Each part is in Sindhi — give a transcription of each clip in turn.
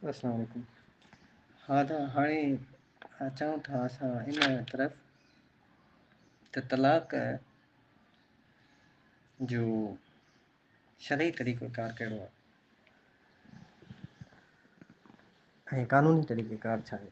السلام عليڪم ها ته هاڻي اچون ٿا اسان ان طرف ته طلاق جو شرعي طريقو ڪار ڪهڙو آهي ۽ قانوني طريقي ڪار ڇا آهي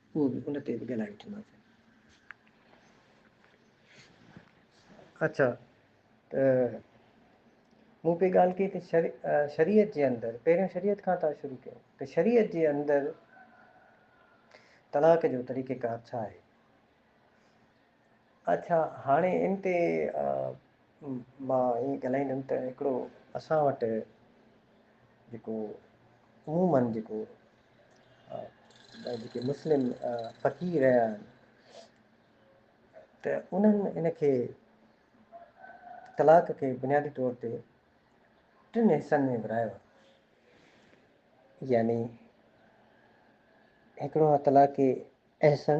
اهو به ان تي به ڳالهائي وٺنداسين. اچا ته مون پئي ڳالهه ڪئي ته شريعت جي اندر پهريون شريعت کان ٿا شروع ڪيون ته شريعت جي اندر طلاق جو طريقيڪار ڇا آهي؟ اڇا هاڻي ان تي مان ائين ڳالهائيندم ته هڪڙو اسان وٽ جيڪو عموماً جيڪو جيڪي مسلم فقير رهيا آهن ته انهن ان کي طلاق کي بنيادي طور تي ٽن حصن ۾ ورهايو آهي يعني هڪڙو آهي طلاق احسن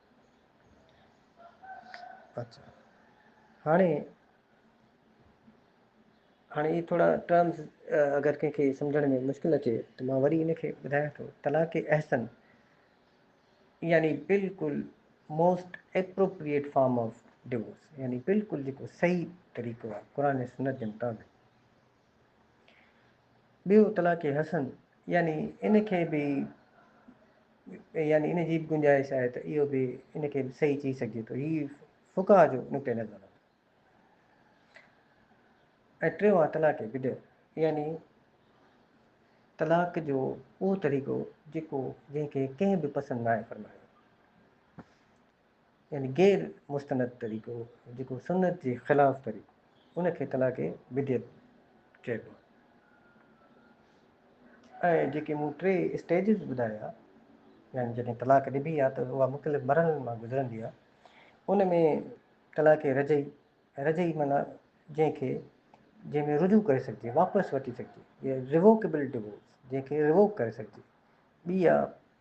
اچھا هاڻي هاڻي هي ٿورا ٽرمز اگر ڪنهن کي سمجهڻ ۾ مشڪل اچي ته مان وري ان کي ٻڌايان ٿو طلاق احسن يعني بالکل most appropriate form of divorce يعني بالکل جيڪو صحيح طريقو آهي قرآن ۽ سنت جي مطابق ٻيو طلاق حسن يعني ان کي به يعني ان جي به گنجائش آهي ته اهو به ان کي به صحيح چئي سگهجي ٿو هي فقها جو نقطه نظر آهي ۽ ٽيون آهي طلاق بدع يعني طلاق جو اهو طريقو جيڪو جنهن کي ڪنهن به پسند ناهي فرمايو يعني غير مستند طريقو جيڪو سنت جي خلاف طريقو ان کي طلاق بدعت چئبو آهي ۽ جيڪي مون ٽي اسٽيجز ٻڌايا يعني جڏهن طلاق ڏبي آهي ته اها مختلف مرحلن مان گذرندي آهي ان ۾ طلاق رجعي رجعي معنيٰ جنهن کي جنهن ۾ رجوع ڪري سگهجي واپس وٺي سگهجي ائين ريووڪيبل ڊوورس جنهن کي ريووڪ ڪري سگهجي ٻي آهي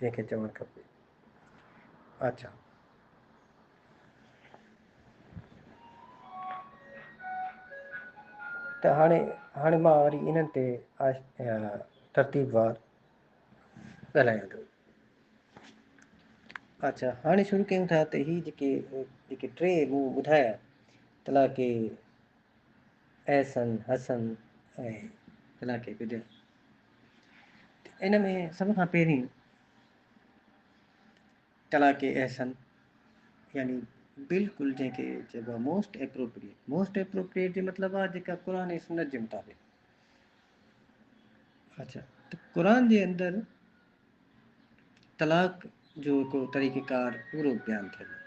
جنهن کي چوڻ کپي اچا ته هاڻي هاڻي مان وري انهن تي ترتيب وار ڳالهايان ٿو اچھا هاڻي شروع ڪيون ٿا ته هي جيڪي جيڪي ٽي مون ٻڌايا تلاڪي احسن حسن ۽ ڪلاڪي بدين ان ۾ سڀ کان پهرين ڪلاڪي احسن يعني بلڪل جنهن کي چئبو آهي موسٽ اپروپريئيٽ موسٽ اپروپريئيٽ جو مطلب آهي جيڪا قرآن ۽ سنت جي مطابق اچھا ته قرآن جي اندر طلاق جو هڪ طريقيڪار پورو بيان ٿيل آهي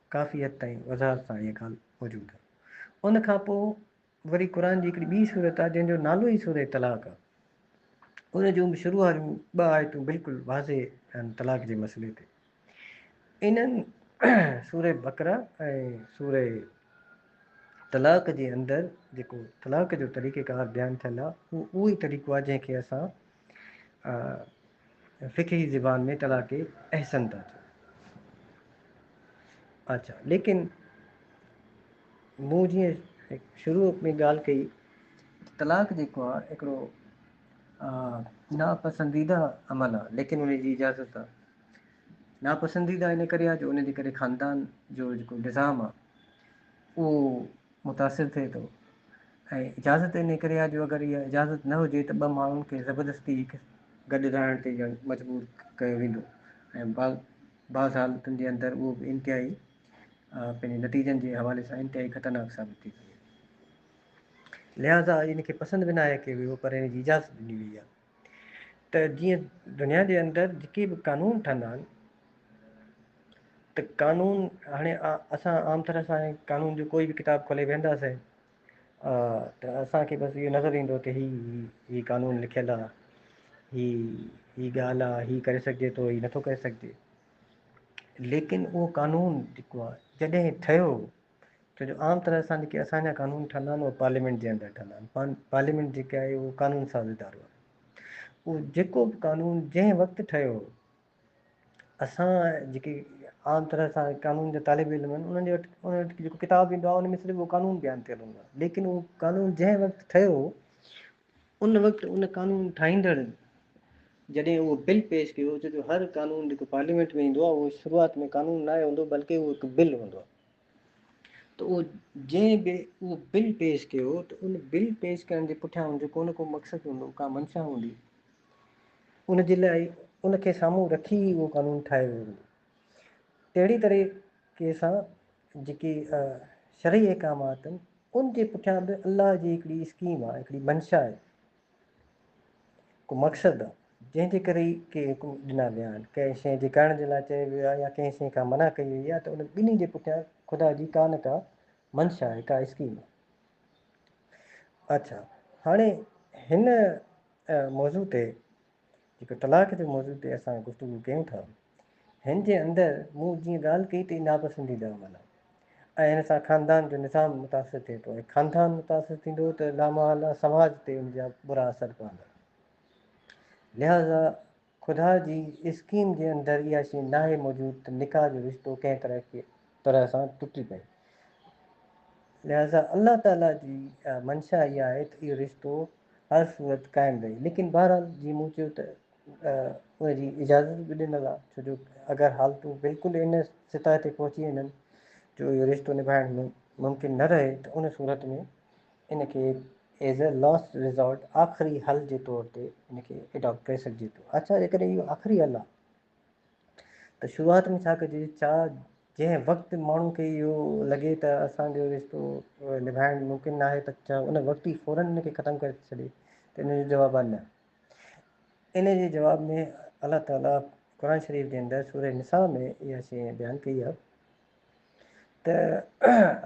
ڪافي حد تائين وضاحت سان اها ڳالهه موجود آهي. ان کان پوء وري قرآن جي هڪڙي ٻي سورت آهي جنهن جو نالو ئي سوره طلاق آهي. ان جون به شروع واريون ٻه آيتون بلڪل واضح آهن طلاق جي مسئلي تي. انهن سوره بقره ۽ سوره طلاق جي اندر جيڪو طلاق جو طريقيڪار بيان ٿيل آهي اهو اهو ئي طريقو آهي جنهن کي اسان فقهي زبان ۾ طلاق احسن ٿا چون. اچا ليڪن مون جيئن شروع ۾ ڳالهه ڪئي طلاق جيڪو آهي هڪڙو ناپسنديده عمل آهي ليڪن ان جي اجازت آهي ناپسنديده ان ڪري آهي جو ان جي ڪري خاندان جو جيڪو نظام آهي اهو متاثر ٿئي ٿو ۽ اجازت انهي ڪري آهي جو اگر اها اجازت نه هجي ته ٻه ماڻهن کي زبردستي هڪ گڏ رهڻ تي ڄڻ مجبور ڪيو ويندو ۽ بعض بعض حالتن جي اندر اهو به انتهائي پنهنجي نتيجن جي حوالي سان انتهائي خطرناڪ ثابت ٿي سگهي ٿو لهذا ان کي پسند به ناهي ڪيو ويو پر ان جي اجازت ڏني وئي آهي. ته جيئن دنيا جي اندر جيڪي به قانون ٺهندا آهن ته قانون هاڻي اسان عام طرح سان قانون جو ڪوئي به ڪتاب کولي ويهنداسين ته اسانکي بس اهو نظر ايندو ته هي هي قانون لکيل آهي هي هي ڳالهه آهي هي ڪري سگهجي ٿو هي نٿو ڪري سگهجي ليڪن اهو قانون جيڪو آهي جڏهن ٺهيو ڇو جو عام طرح سان جيڪي اسان جا قانون ٺھندا آھن اھي پارليامينٽ جي اندر ٺھندا آھن پان پارليامينٽ جيڪي آھي اھو قانون ساز ادارو آھي اھو جيڪو بھ قانون جنھن وقت ٺھيو ھو اسان جيڪي عام طرح سان قانون جا طالب علم آھن انھن جي وٽ انھن وٽ جيڪو ڪتاب ايندو آھي ان ۾ صرف اھو قانون بيان ڪيل ھوندو آھي ليڪن اھو قانون جنھن وقت ٺھيو ھو ان وقت ان قانون ٺاھيندڙ جڏھن اھو بل پيش ڪيو ڇو جو ھر قانون جيڪو پارليامينٽ ۾ ايندو آھي اھو شروعات ۾ قانون ناھي ھوندو بلڪ اھو ھڪ بل ھوندو آھي ته اهو جنهن به اهو بل پيش ڪيو ته ان بل پيش ڪرڻ جي پٺيان ان جو ڪو نه ڪو مقصد هوندو، ڪا منشا هوندي. ان جي لاء ان کي سامهون رکي ئي اهو قانون ٺاهيو ويو هوندو. تهڙي طريقي سان جيڪي شرعي احڪامات آهن، ان جي پٺيان به الله جي هڪڙي اسڪيم آهي، هڪڙي منشا آهي. ڪو مقصد جنهن جي ڪري ڪي حڪم ڏنا ويا آهن، ڪنهن شيء جي ڪرڻ جي لاء چيو ويو آهي يا ڪنهن شيء کان منع ڪئي وئي آهي ته انهن ٻنهي جي پٺيان خدا جي ڪا نه ڪا منشا آهي، ڪا اسڪيم آهي. اڇا هاڻي هن موضوع تي جيڪو طلاق جي موضوع تي اسان گفتگو ڪيون ٿا، هن جي اندر مون جيئن ڳالهه ڪئي ته هي ناپسنديده عمل آهي ۽ هن سان خاندان جو نظام متاثر ٿئي ٿو ۽ خاندان متاثر ٿيندو ته لامحاله سماج تي ان جا برا اثر پوندا. لهٰذا خدا جي اسڪيم جي اندر اها شيء ناهي موجود ته نڪاح جو رشتو ڪنهن طرح کي طرح سان ٽٽي پئي. لهٰذا الله تعاليٰ جي منشا اها آهي ته اهو رشتو هر صورت قائم رهي ليڪن بهرحال جي مون چيو ته ان جي اجازت به ڏنل آهي ڇو جو اگر حالتون بلڪل ان سطح تي پهچي وڃن جو اهو رشتو نڀائڻ ممڪن نه رهي ته ان صورت ۾ ان کي ايز اي لاسٽ ريزورٽ آخري حل جي طور تي ان کي اڊاپٽ ڪري سگهجي ٿو اچا جيڪڏهن اهو آخري حل آهي ته شروعات ۾ ڇا ڪجي چا جنهن وقت ماڻهو کي اهو لڳي ته اسان جو رشتو نڀائڻ ممڪن ناهي ته ڇا ان وقت ئي فورن ان کي ختم ڪري ٿو ڇڏي ته ان جو جواب آهي نه ان جي جواب ۾ الله تعالي قرآن شريف جي اندر سورة نساء ۾ اها شيء بيان ڪئي آهي ته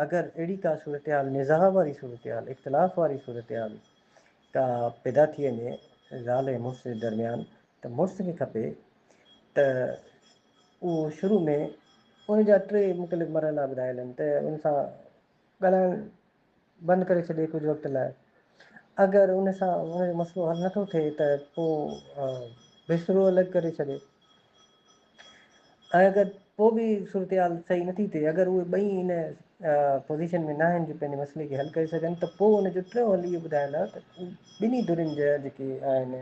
اگر اهڙي ڪا صورتحال نزاع واري صورتحال اختلاف واري صورتحال ڪا پيدا ٿي وڃي زال ۽ مڙس جي درميان ته مڙس کي کپي ته اهو شروع ۾ ان جا ٽي مختلف مرحلا ٻڌايل آهن ته ان سان ڳالهائڻ بند ڪري ڇڏي ڪجهه وقت لاء اگر ان سان ان جو مسئلو حل نٿو ٿئي ته پوء بسترو الڳ ڪري ڇڏي ۽ اگر پوء به صورتحال صحيح نٿي ٿئي اگر اهي ٻئي ان پوزيشن ۾ نه آهن جو پنهنجي مسئلي کي حل ڪري سگهن ته پوء ان جو ٽيون حل اهو ٻڌايل آهي ته ٻنهي ڌرين جا جيڪي آهن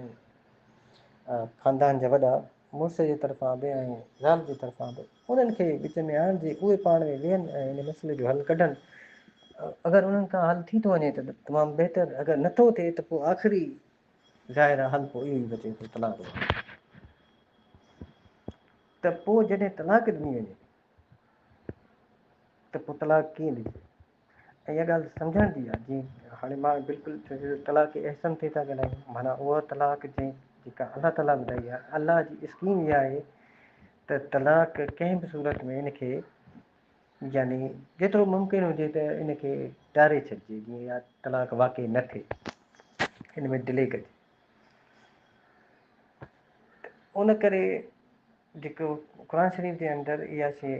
خاندان جا وڏا، مڙس جي طرفان به ۽ زال جي طرفان به، انهن کي وچ ۾ آڻجي اهي پاڻ ۾ ويهن ۽ ان مسئلي جو حل ڪڍن. اگر انهن کان حل ٿي ٿو وڃي ته تمام بهتر، اگر نه ٿو ٿئي ته پوء آخري ظاهر حل پوء اهو ئي بچي ٿو، طلاق ڏيڻ. ته پوء جڏهن طلاق ڏني وڃي ته پوء طلاق ڪيئن ڏجي؟ ۽ اها ڳالهه سمجهڻ جي آهي جي هاڻي مان بلڪل طلاق جي احسن تي ٿا ڳالهايون معنيٰ اها طلاق جنهن جيڪا الله تعالٰي ٻڌائي آهي الله جي اسڪيم اها آهي ته طلاق ڪنهن به صورت ۾ ان کي يعني جيترو ممڪن هجي ته ان کي ٽاري ڇڏجي جيئن يا طلاق واقع نه ٿئي ان ۾ ڊلي ڪجي ان ڪري جيڪو قرآن شريف جي اندر اها شيء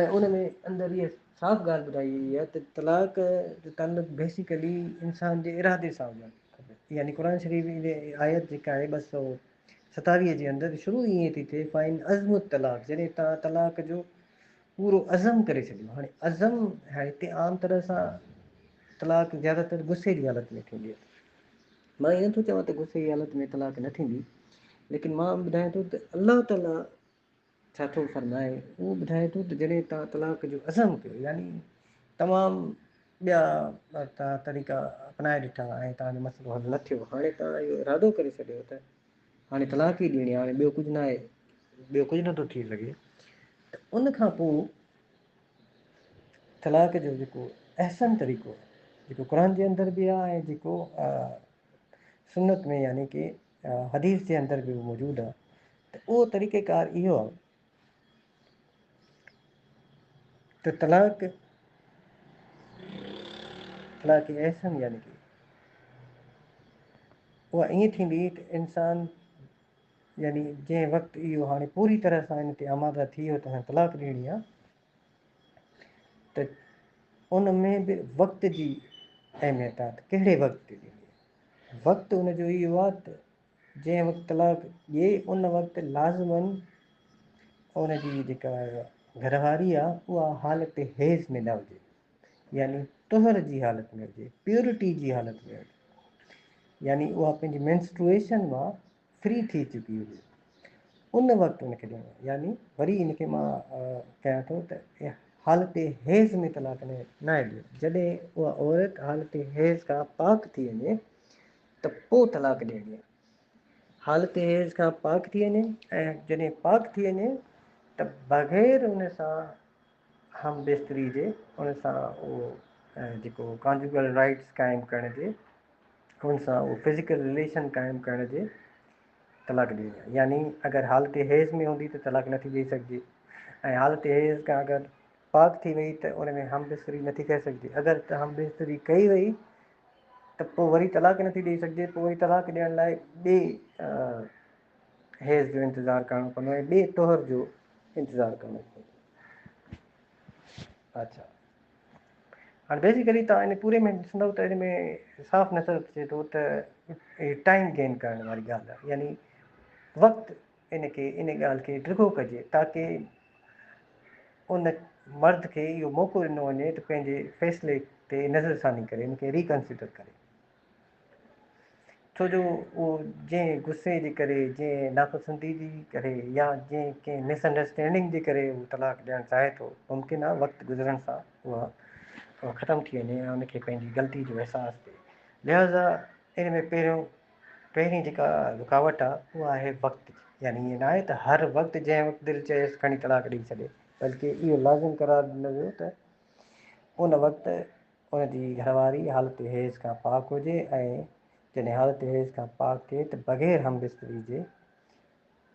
۽ ان ۾ اندر اها صاف ڳالهه ٻڌائي وئي آهي ته طلاق جو تعلق بيسيڪلي انسان جي ارادي سان هجڻ کپي يعني قرآن شريف جي آيت جيڪا آهي ٻه سؤ ستاويهه جي اندر شروع ئي ائين ٿي ٿئي فائن عزم الطلاق جڏهن توهان طلاق جو پورو عزم ڪري ڇڏيو هاڻي عزم هتي عام طرح سان طلاق زيادھ تر غصي جي حالت ۾ ٿيندي آهي مان اهي نٿو چوان ته غصي جي حالت ۾ طلاق نه ٿيندي ليڪن مان ٻڌايان ٿو ته الله تعاليٰ ڇا ٿو فرمائي؟ اهو ٻڌائي ٿو ته جڏهن توهان طلاق جو عزم ڪيو يعني تمام ٻيا توهان طريقا اپنائي ڏٺا ۽ توهان جو مسئلو حل نه ٿيو هاڻي توهان اهو ارادو ڪري ڇڏيو ته هاڻي طلاق ئي ڏيڻي هاڻي ٻيو ڪجهه ناهي ٻيو ڪجهه نٿو ٿي سگهي ته ان کان پوء طلاق جو جيڪو احسن طريقو جيڪو قرآن جي اندر به آهي ۽ جيڪو سنت ۾ يعني ڪي حديث جي اندر به موجود آ ته اهو طريقه ڪار اهو آ ته طلاق طلاق احسن يعني ڪي اها ائين ٿيندي ته انسان يعني جنهن وقت اهو هاڻي پوري طرح سان ان تي آماده ٿي ويو ته هاڻي طلاق ڏيڻي آ ته ان ۾ به وقت جي اهميت آ ته ڪهڙي وقت تي ڏيڻي آ وقت ان جو اهو آهي ته جنهن وقت طلاق ڏئي ان وقت لازما ان جي جيڪا گهر واري آهي اها حالت حيض ۾ نه هجي يعني طهر جي حالت ۾ هجي پيورٽي جي حالت ۾ هجي يعني اها پنهنجي مينسٽروئيشن مان فري ٿي چڪي هئي ان وقت ان کي ڏيڻو يعني وري ان کي مان ڪيان ٿو ته حالت حيض ۾ طلاق نه ناهي ڏيو جڏهن اها عورت حالت حيض کان پاڪ ٿي وڃي ته پوء طلاق ڏيڻي آهي حالت حيض کان پاڪ ٿي وڃي ۽ جڏهن پاڪ ٿي وڃي ته بغير ان سان هم بستري جي ان سان اهو جيڪو ڪانجوگل رائيٽس قائم ڪرڻ جي ان سان اهو فزيڪل رليشن قائم ڪرڻ جي طلاق ڏئي يعني اگر حالت حيض ۾ هوندي ته طلاق نٿي ڏئي سگهجي ۽ حالت حيض کان اگر پاڪ ٿي وئي ته ان ۾ هم بستري نٿي ڪري سگهجي اگر ته هم بستري ڪئي وئي ته پوء وري طلاق نٿي ڏئي سگهجي پوء وري طلاق ڏيڻ لاء ٻي حيض جو انتظار ڪرڻو پوندو ۽ ٻئي طهر جو انتظار ڪرڻو پوندو. اچھا هاڻي بيسيڪلي تهان ان پوري ۾ ڏسندو ته ان ۾ صاف نظر اچي ٿو ته ٽائيم گين ڪرڻ واري ڳالهه آهي يعني وقت ان کي ان ڳالهه کي ڊگهو ڪجي تاڪي ان مرد کي اهو موقعو ڏنو وڃي ته پنهنجي فيصلي تي نظر ثاني ڪري ان کي ريڪنسيڊر ڪري ڇو جو اهو جنهن غصي جي ڪري، جنهن ناپسندي جي ڪري يا جنهن ڪنهن مس انڊرسٽينڊنگ جي ڪري هو طلاق ڏيڻ چاهي ٿو، ممڪن آهي وقت گذرڻ سان اها ختم ٿي وڃي ۽ ان کي پنهنجي غلطي جو احساس ٿئي. لهذا ان ۾ پهريون پهرين جيڪا رڪاوٽ آهي اها آهي وقت جي. يعني ائين ناهي ته هر وقت جنهن وقت دل چيس کڻي طلاق ڏئي ڇڏي، بلڪه اهو لازم قرار ڏنو ويو ته ان وقت ان جي گهر واري حالت حيض کان پاڪ هجي ۽ جڏهن حالت حيض کان پاڪ ٿئي ته بغير هم بستري جي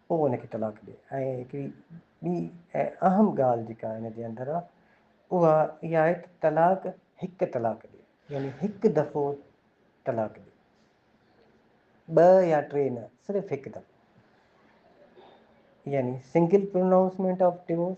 پوء ان کي طلاق ڏي ۽ هڪڙي ٻي ۽ اهم ڳالهه جيڪا ان جي اندر آهي اها اها آهي ته طلاق هڪ طلاق ڏي يعني هڪ دفعو طلاق ڏي ٻه يا ٽي نه صرف هڪ دفعو يعني سنگل پروناؤنسمينٽ آف ڊيوس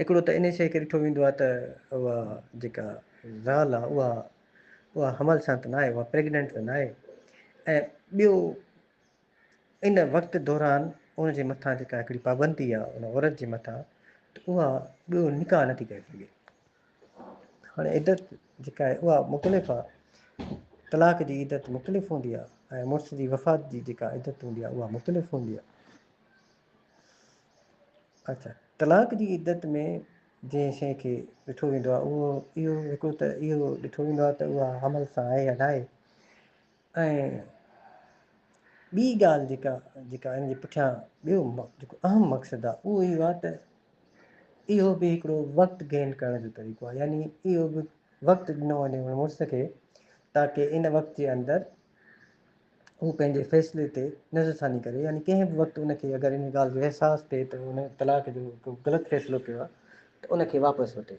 هڪڙو ته انهي شيء کي ڏٺو ويندو آهي ته اها جيڪا زال آهي اها اها حمل سان ته ناهي، اها پريگننٽ ته ناهي ۽ ٻيو ان وقت دوران ان جي مٿان جيڪا هڪڙي پابندي آهي ان عورت جي مٿان ته اها ٻيو نڪاح نٿي ڪري سگهي. هاڻي عدت جيڪا آهي اها مختلف آهي، طلاق جي عدت مختلف هوندي آهي ۽ مڙس جي وفات جي جيڪا عدت هوندي آهي اها مختلف هوندي آهي. اچا طلاق جي عدت ۾ جنهن شيء کي ڏٺو ويندو آهي اهو اهو هڪڙو ته اهو ڏٺو ويندو آهي ته اها حمل سان آهي يا ناهي ۽ ٻي ڳالهه جيڪا جيڪا ان جي پٺيان ٻيو جيڪو اهم مقصد آهي اهو اهو آهي ته اهو به هڪڙو وقت گين ڪرڻ جو طريقو آهي يعني اهو به وقت ڏنو وڃي مڙس کي تاڪي ان وقت جي اندر هو پنهنجي فيصلي تي نظرثاني ڪري يعني ڪنهن به وقت ان کي اگر ان ڳالهه جو احساس ٿئي ته هن طلاق جو هڪ غلط فيصلو ڪيو آهي ته ان کي واپس وٺي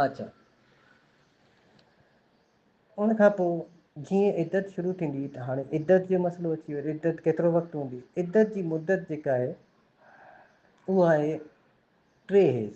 آچا ان کان پوء جيئن عدت شروع ٿيندي ته هاڻي عدت جو مسئلو اچي ويو عدت ڪيترو وقت هوندي عدت جي مدت جيڪا آهي اها آهي ٽي هيز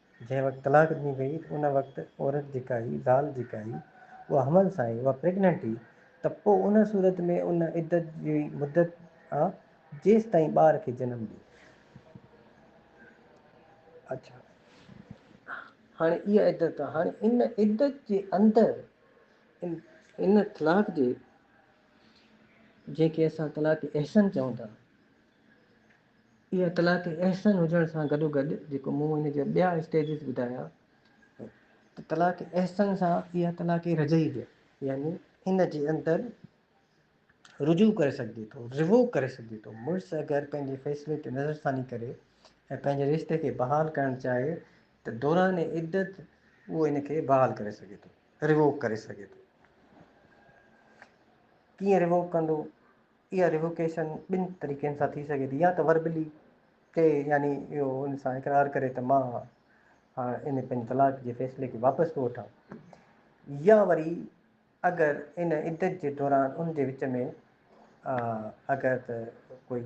جنهن وقت طلاق ڏني وئي ته ان وقت عورت جيڪا هئي، زال جيڪا هئي، اها حمل سان هئي، اها پريگننٽ هئي ته پوء ان صورت ۾ ان عدت جي مدت آ جيستائين ٻار کي جنم ڏي. اچا هاڻي اها عدت آ، هاڻي ان عدت جي اندر ان طلاق جي جنهن کي اسان طلاق احسن چئون ٿا، هي اطلاق احسن هجڻ سان گڏوگڏ جيڪو مون هن جا ٻيا اسٽيجز ٻڌايا ته طلاق احسن سان اها طلاق رجعي به يعني ان جي اندر رجوع ڪري سگهجي ٿو روو ڪري سگهجي ٿو مڙس اگر پنهنجي فيصلي تي نظر ثاني ڪري ۽ پنهنجي رشتي کي بحال ڪرڻ چاهي ته دوران عدت اهو ان کي بحال ڪري سگهي ٿو روو ڪري سگهي ٿو ڪيئن روو ڪندو اها ريووڪيشن ٻن طريقن سان ٿي سگهي ٿي يا ته وربلي ڪي يعني اهو ان سان اقرار ڪري ته مان هاڻ ان پنهنجي طلاق جي فيصلي کي واپس ٿو وٺان يا وري اگر ان عدت جي دوران ان جي وچ ۾ اگر ته ڪوئي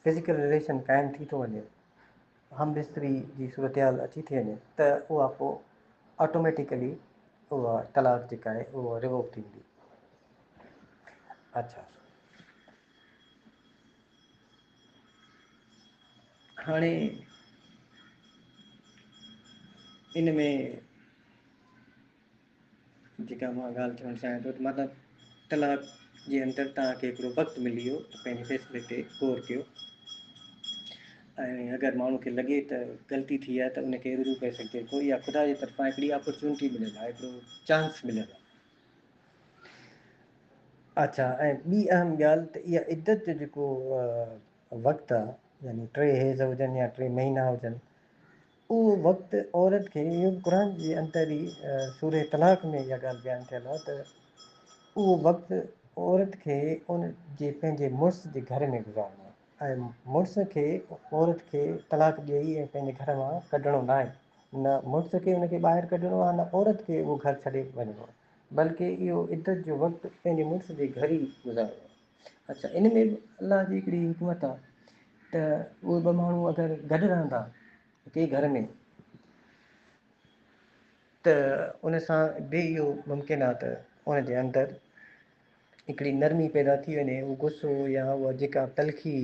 فزيڪل رليشن قائم ٿي ٿو وڃي همبستري جي صورتحال اچي ٿي وڃي ته اها پوء آٽوميٽيڪلي اها طلاق جيڪا آهي اها ريووڪ ٿي ويندي. اڇا. هاڻي ان ۾ جيڪا مان ڳالهه چوڻ چاهيان ٿو ته مطلب ڪلاڪ جي اندر توهان کي هڪڙو وقت ملي ويو ته پنهنجي فيصلي تي غور ڪيو ۽ اگر ماڻهو کي لڳي ته غلطي ٿي آهي ته ان کي رجوع ڪري سگهجي ٿو يا خدا جي طرفان هڪڙي اپرچونٽي مليل آهي هڪڙو چانس مليل آهي اچھا ۽ ٻي اهم ڳالهه ته اها عدت جو جيڪو وقت آهي يعني ٽي حيض هجن يا ٽي مهينا هجن اهو وقت عورت کي يم قرآن جي انتري سورة طلاق ۾ اها ڳالهه بيان ٿيل آهي ته اهو وقت عورت کي ان جي پنهنجي مڙس جي گهر ۾ گذارڻو آهي ۽ مڙس کي عورت کي طلاق ڏيئي ۽ پنهنجي گهر مان ڪڍڻو نه آهي نه مڙس کي ان کي ٻاهر ڪڍڻو آهي نه عورت کي اهو گهر ڇڏي وڃڻو آهي بلڪه اهو عدت جو وقت پنهنجي مڙس جي گهر ئي گذارڻو آهي اچا ان ۾ به الله جي هڪڙي حڪمت آ ته اهي ٻه ماڻهو اگر گڏ رهندا هڪي گهر ۾، ته ان سان به اهو ممڪن آ ته ان جي اندر هڪڙي نرمي پيدا ٿي وڃي اهو غصو يا اها جيڪا تلخي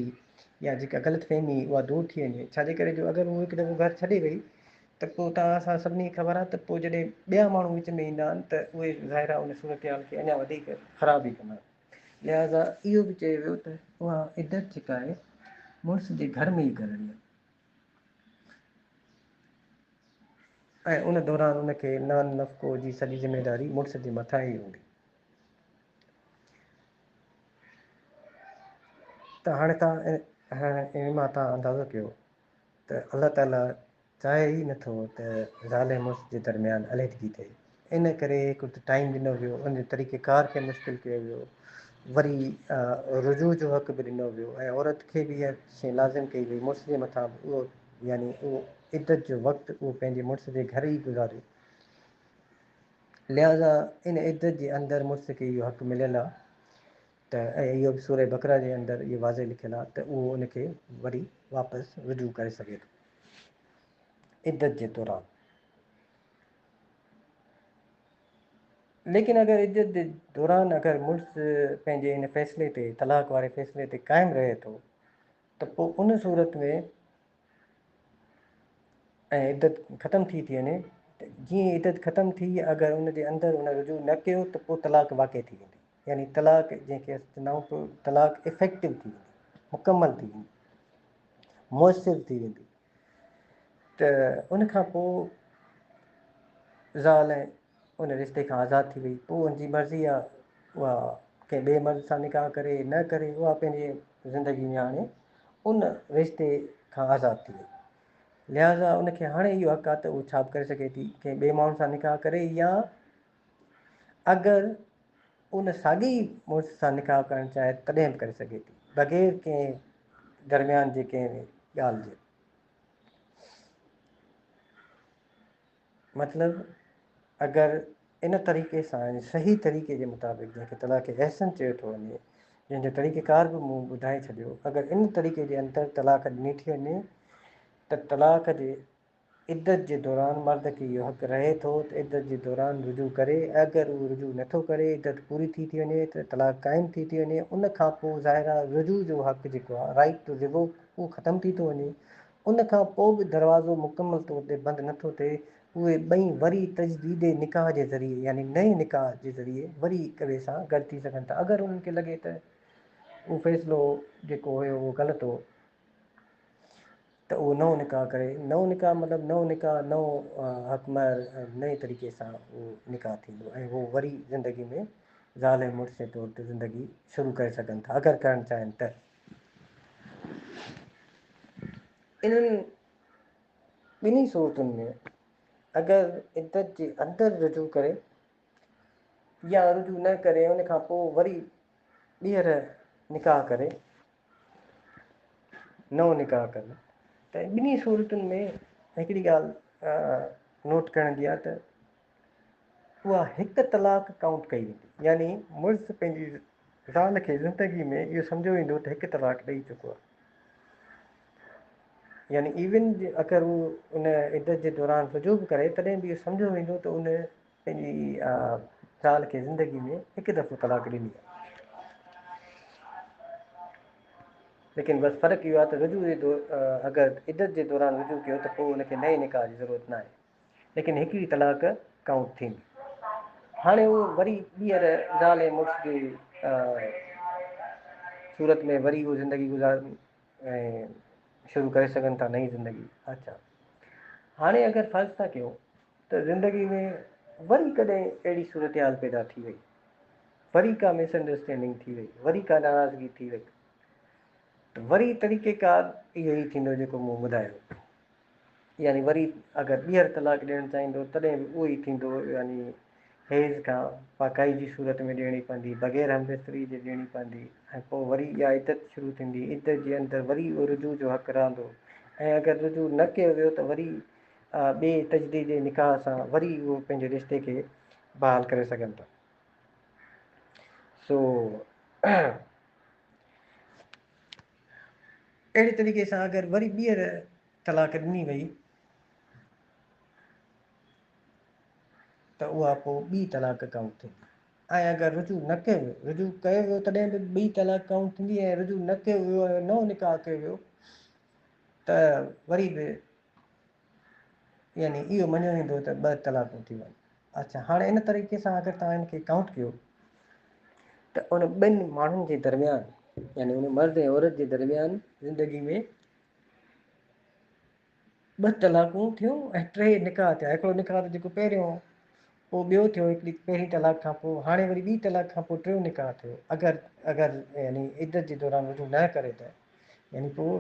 يا جيڪا غلط فهمي اها دور ٿي وڃي ڇاجي ڪري جو اگر هو هڪ دفعو گهر ڇڏي وئي ته پوء توهان اسان سڀني کي خبر آ ته پوء جڏهن ٻيا ماڻهو وچ ۾ ايندا آهن ته اهي ظاهر آ ان صورتحال کي اڃا وڌيڪ خراب ئي ڪندا لهٰذا اهو به چيو ويو ته اها عدت جيڪا آهي مڙس جي گهر ۾ ئي گذرڻي آهي ۽ ان دوران ان کي نان نفقو جي سڄي ذميواري مڙس جي مٿان ئي هوندي ته هاڻي تان ان مان تان اندازو ڪيو ته الله تعاليٰ چاهي ئي نٿو ته زال ۽ مڙس جي درميان عليحدگي ٿئي. ان ڪري هڪ ته ٽائيم ڏنو ويو، ان جي طريقه ڪار کي مشڪل ڪيو ويو، وري رجوع جو حق به ڏنو ويو ۽ عورت کي به اها شيء لازم ڪئي وئي مڙس جي مٿان به اهو يعني اهو عدت جو وقت اهو پنهنجي مڙس جي گهر ئي گذاري. لهٰذا ان عدت جي اندر مڙس کي اهو حق مليل آهي ته ۽ اهو به سوره بقره جي اندر اهو واضح لکيل آهي ته اهو ان کي وري واپس رجوع ڪري سگهي ٿو عدت جي دوران ليڪن اگر عدت جي دوران اگر مڙس پنهنجي ان فيصلي تي طلاق واري فيصلي تي قائم رهي ٿو ته پوء ان صورت ۾ ۽ عدت ختم ٿي ٿي وڃي جي عدت ختم ٿي اگر ان جي اندر ان رجوع نه ڪيو ته پوء طلاق واقع ٿي ويندي يعني طلاق جنهن کي اسان چوندا آهيون ته طلاق افيڪٽو ٿي ويندي مڪمل ٿي ويندي مؤثر ٿي ويندي ته ان کان پوء ذال ۽ ان رشتے کان آزاد ٿي وئي پوء ان جي مرضي آ اها ڪنهن ٻئي مرض سان نڪاح ڪري نه ڪري اها پنهنجي زندگي ۾ هاڻي ان رشتے کان آزاد ٿي وئي لهٰذا ان کي هاڻي اهو حق آ ته اهو ڇا به ڪري سگهي ٿي ڪنهن ٻئي ماڻهو سان نڪاح ڪري يا اگر ان ساڳي مڙس سان نڪاح ڪرڻ چاهي تڏهن به ڪري سگهي ٿي بغير ڪنهن درميان جي ڪنهن به ڳالهه جي. مطلب اگر ان طريقي سان يعني صحيح طريقي جي مطابق جنهن کي طلاق احسن چيو ٿو وڃي جنهن جو طريقه ڪار به مون ٻڌائي ڇڏيو اگر ان طريقي جي اندر طلاق ڏني ٿي وڃي ته طلاق جي عدت جي دوران مرد کي اهو حق رهي ٿو ته عدت جي دوران رجوع ڪري ۽ اگر اهو رجوع نه ٿو ڪري عدت پوري ٿي ٿي وڃي ته طلاق قائم ٿي ٿي وڃي ان کان پوء ظاهر آهي رجوع جو حق جيڪو آهي Right to Revoke اهو ختم ٿي ٿو وڃي ان کان پوء به دروازو مڪمل طور تي بند نه ٿو ٿئي اهي ٻئي وري تجديد نڪاح جي ذريعي يعني نئين نڪاح جي ذريعي وري هڪ ٻئي سان گڏ ٿي سگهن ٿا اگر انهن کي لڳي ته اهو فيصلو جيڪو هيو اهو غلط هو ته اهو نئون نڪاح ڪري، نئون نڪاح مطلب نئون نڪاح، نئون حق مهر نئين طريقي سان اهو نڪاح ٿيندو ۽ هو وري زندگي ۾ زال ۽ مڙس جي طور تي زندگي شروع ڪري سگهن ٿا اگر ڪرڻ چاهين ته. انهن ٻنهي صورتن ۾ اگر عدت جي اندر رجوع ڪري يا رجوع نه ڪري ان کان پوء وري ٻيهر نڪاح ڪري نئون نڪاح ڪن ته ٻنهي صورتن ۾ هڪڙي ڳالهه نوٽ ڪرڻ جي آهي ته اها هڪ طلاق ڪائونٽ ڪئي ويندي يعني مرس پنهنجي زال کي زندگي ۾ اهو سمجهيو ويندو ته هڪ طلاق ڏئي چڪو آهي يعني ايون اگر هو ان عدت جي دوران رجوع به ڪري تڏهن به اهو سمجهيو ويندو ته ان پنهنجي زال کي زندگي ۾ هڪ دفعو طلاق ڏني آهي ليڪن بس فرق اهو آهي ته رجوع جي دور اگر عدت جي دوران رجوع ڪيو ته پوء ان کي نئين نڪاح جي ضرورت نه آهي ليڪن هڪڙي طلاق ڪائونٽ ٿيندي هاڻي هو وري ٻيهر زال ۽ مڙس جي صورت ۾ وري اهو زندگي گذارن ۽ شروع ڪري سگهن ٿا نئين زندگي. اچا هاڻي اگر فرض ٿا ڪيو ته زندگي ۾ وري ڪڏهن اهڙي صورتحال پيدا ٿي وئي، وري ڪا مس انڊرسٽينڊنگ ٿي وئي، وري ڪا ناراضگي ٿي وئي ته وري طريقيڪار اهو ئي ٿيندو جيڪو مون ٻڌايو. يعني وري اگر ٻيهر طلاق ڏيڻ چاهيندو تڏهن به اهو ئي ٿيندو يعني حيض کان پاڪائي جي صورت ۾ ڏيڻي پوندي بغير همبستري جي ڏيڻي پوندي ۽ پوء وري اها عدت شروع ٿيندي عدت جي اندر وري اهو رجوع جو حق رهندو ۽ اگر رجوع نه ڪيو ويو ته وري ٻئي تجديد نڪاح سان وري اهو پنهنجي رشتي کي بحال ڪري سگهن ٿا سو اهڙي طريقي سان اگر وري ٻيهر طلاق ڏني وئي ته اها پوء ٻي طلاق ڪائونٽ ٿيندي ۽ اگر رجوع نه ڪيو ويو رجوع ڪيو ويو تڏهن به ٻي طلاق ڪائونٽ ٿيندي ۽ رجوع نه ڪيو ويو ۽ نئون نڪاح ڪيو ويو ته وري به يعني اهو مڃيو ويندو ته ٻه طلاقون ٿيون آهن. اڇا هاڻي ان طريقي سان اگر توهان ان کي ڪائونٽ ڪيو ته ان ٻن ماڻهن جي درميان يعني ان مرد ۽ عورت جي درميان زندگي ۾ ٻه طلاقون ٿيون ۽ ٽي نڪاح ٿيا هڪڙو نڪاح ته جيڪو پهريون هو پوء ٻيو ٿيو هڪڙي پهرين طلاق کان پوء هاڻي وري ٻي طلاق کان پوء ٽيون نڪاح ٿيو اگر اگر يعني عدت جي دوران رجوع نه ڪري ته يعني پوء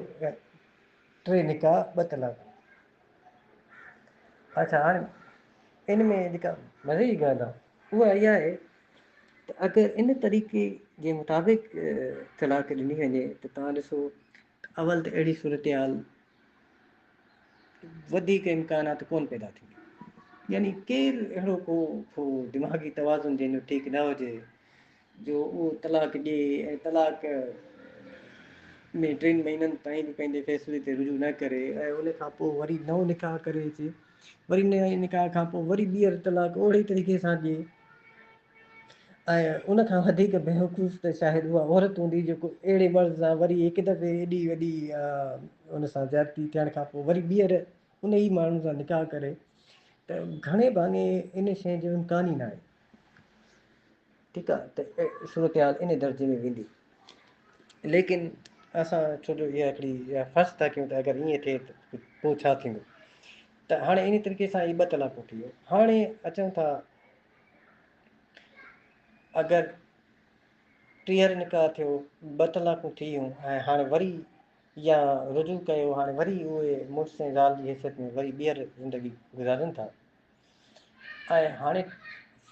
ٽي نڪاح ٻه طلاق اچھا هاڻي ان ۾ جيڪا مزي جي ڳالهه آهي اها اها آهي ته اگر ان طريقي جي مطابق طلاق ڏني وڃي ته تان ڏسو اول ته اهڙي صورتحال وڌيڪ امڪانات ڪونه پيدا ٿيندي. يعني ڪير اهڙو ڪو ٿو دماغي توازن جنهن جو ٺيڪ نه هجي جو اهو طلاق ڏئي ۽ طلاق ۾ ٽن مهينن تائين به پنهنجي فيصلي تي رجوع نه ڪري ۽ ان کان پوء وري نئون نڪاح ڪري اچي وري نئين نڪاح کان پوء وري ٻيهر طلاق اهڙي طريقي سان ڏئي ۽ ان کان وڌيڪ بيوقوف ته شايد اها عورت هوندي جيڪو اهڙي مرد سان وري هڪ دفعي ايڏي وڏي ان سان زيادتي ٿيڻ کان پوء وري ٻيهر ان ئي ماڻهو سان نڪاح ڪري ته گهڻي ڀاڱي ان شيء جو امڪان ئي ناهي. ٺيڪ آ ته صورتحال ان درجي ۾ ويندي ليڪن اسان ڇو جو اها هڪڙي فرض ٿا ڪيون ته اگر ائين ٿئي ته پوء ڇا ٿيندو ته هاڻي انهي طريقي سان هي ٻه طلاقون ٿي ويون هاڻي اچون ٿا اگر ٽيهر نڪاح ٿيو، ٻه طلاقون ٿيون ۽ هاڻي وري يا رجوع ڪيو، هاڻي وري اهي مڙس ۽ زال جي حيثيت ۾ وري ٻيهر زندگي گذارين ٿا ۽ هاڻي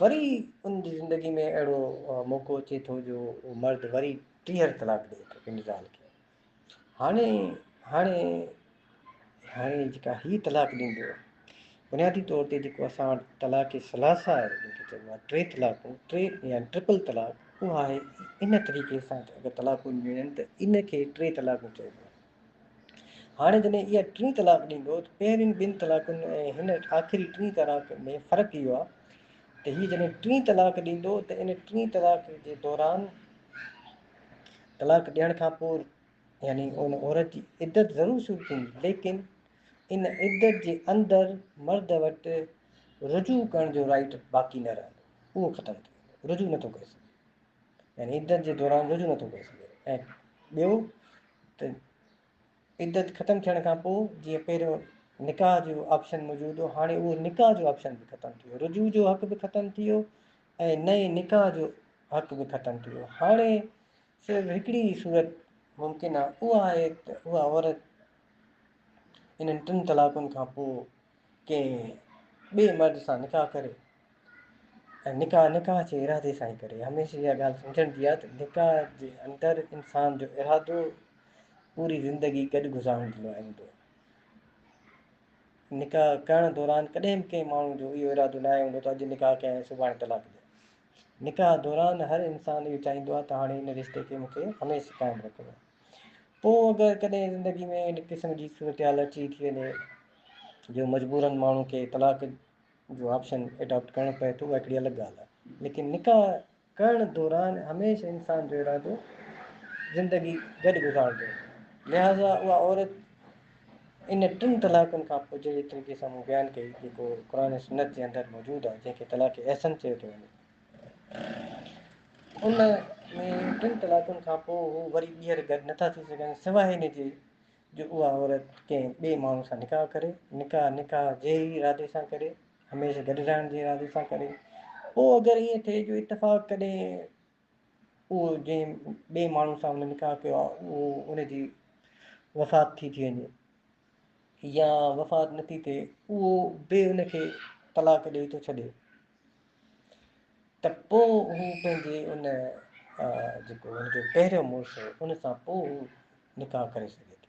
وري ان جي زندگي ۾ اهڙو موقعو اچي ٿو جو مرد وري ٽيهر طلاق ڏئي ٿو پنهنجي زال کي هاڻي هاڻي هاڻي جيڪا هي طلاق ڏيندو بنيادي طور تي جيڪو اسان وٽ طلاق ثلاثه آهي جنهن کي چئبو آهي ٽي طلاقون ٽي يا ٽرپل طلاق اها آهي ان طريقي سان اگر طلاقون ملن ته ان کي ٽي طلاقون چئبو آهي هاڻي جڏهن اها ٽي طلاق ڏيندو ته پهرين ٻن طلاقن ۽ هن آخري ٽي طلاق ۾ فرق اهو آهي ته هي جڏهن ٽي طلاق ڏيندو ته ان ٽي طلاق جي دوران طلاق ڏيڻ کان پوء يعني ان عورت جي عدت ضرور شروع ٿيندي ليڪن ان عدت جي اندر مرد وٽ رجوع ڪرڻ جو رائٽ باقي نه رهندو اهو ختم ٿي ويندو رجوع نٿو ڪري سگهي يعني عدت جي دوران رجوع نٿو ڪري سگهي ۽ ٻيو ته عدت ختم ٿيڻ کان پوء جيئن پهريون نڪاح جو آپشن موجود هو هاڻي اهو نڪاح جو آپشن به ختم ٿي ويو رجوع جو حق به ختم ٿي ويو ۽ نه ئي نڪاح جو حق به ختم ٿي ويو. هاڻي صرف هڪڙي ئي صورت ممڪن آهي، اها آهي ته اها عورت انهن ٽن طلاقن کان پوء ڪنهن ٻئي مرد سان نڪاح ڪري ۽ نڪاح نڪاح جي ارادي سان ئي ڪري. هميشه اها ڳالهه سمجهڻ جي آهي ته نڪاح جي اندر انسان جو ارادو پوري زندگي گڏ گذارڻ جي لاء هوندو آهي. نڪاح ڪرڻ دوران ڪڏهن به ڪنهن ماڻهو جو اهو ارادو ناهي هوندو ته اڄ نڪاح ڪيا ۽ سڀاڻي طلاق ڏيا. نڪاح دوران هر انسان اهو چاهيندو آهي ته هاڻي هن رشتي کي مون کي هميشھ قائم رکڻو آهي. پوء اگر ڪڏهن زندگي ۾ ان قسم جي صورتحال اچي ٿي وڃي جو مجبورن ماڻهو کي طلاق جو آپشن ايڊاپٽ ڪرڻو پئي ٿو اها هڪڙي الڳ ڳالهه آهي ليڪن نڪاح ڪرڻ دوران هميشه انسان جو ارادو زندگي گڏ گذاربو لهٰذا اها عورت ان ٽن طلاقن کان پوء جهڙي طريقي سان مون بيان ڪئي جيڪو قرآن ۽ سنت جي اندر موجود آهي جنهن کي طلاق احسن چيو ٿو وڃي ان ۾ ٽن طلاقن کان پوء هو وري ٻيهر گڏ نٿا ٿي سگهن سواء ان جي جو اها عورت ڪنهن ٻئي ماڻهو سان نڪاح ڪري نڪاح نڪاح جي ئي ارادي سان ڪري هميشه گڏ رهڻ جي ارادي سان ڪري پوء اگر ائين ٿئي جو اتفاق ڪڏهن اهو جنهن ٻئي ماڻهو سان هن نڪاح ڪيو آهي اهو ان جي وفات ٿي ٿي وڃي يا وفات نه ٿي ٿئي اهو به ان کي طلاق ڏيئي ٿو ڇڏي ته پوء هو پنهنجي ان جيڪو هن جو پهريون مڙس ان سان پوء هو نڪاح ڪري سگهي ٿو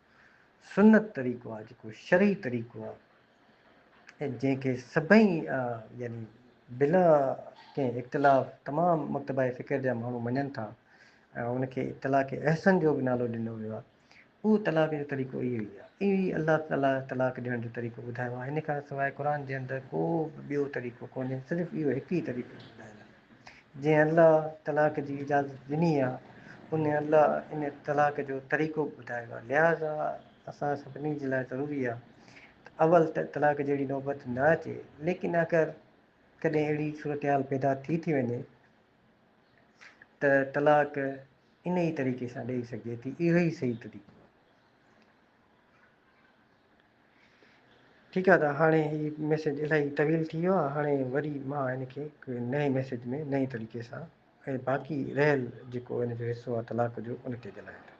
سنت طريقو آهي جيڪو شرعي طريقو آهي ۽ جنهن کي سڀئي يعني بلا ڪنهن اختلاف تمام مڪتبه فڪر جا ماڻهو مڃن ٿا ۽ ان کي طلاق احسن جو به نالو ڏنو ويو آهي اهو طلاق جو طريقو اهو ئي آهي اهو ئي الله تعالا طلاق ڏيڻ جو طريقو ٻڌايو آهي هن کان سواء قرآن جي اندر ڪو به ٻيو طريقو ڪونهي صرف اهو هڪ ئي طريقو ٻڌايل آهي جنهن الله طلاق جي اجازت ڏني آهي، ان الله ان طلاق جو طريقو به ٻڌايو آهي، لهٰذا اسان سڀني جي لاء ضروري آهي ته اول ته طلاق جهڙي نوبت نه اچي، ليڪن اگر ڪڏهن اهڙي صورتحال پيدا ٿي ٿي وڃي ته طلاق ان ئي طريقي سان ڏئي سگهجي ٿي، اهو ئي صحيح طريقو آهي. ٺيڪ آ ته هاڻي هي ميسيج الاهي طويل ٿي ويو آ هاڻي وري مان هن کي هڪ نئين ميسيج ۾ نئين طريقي سان ۽ باقي رهيل جيڪو هن جو حصو آ طلاق جو ان تي ڳالهايان ٿو.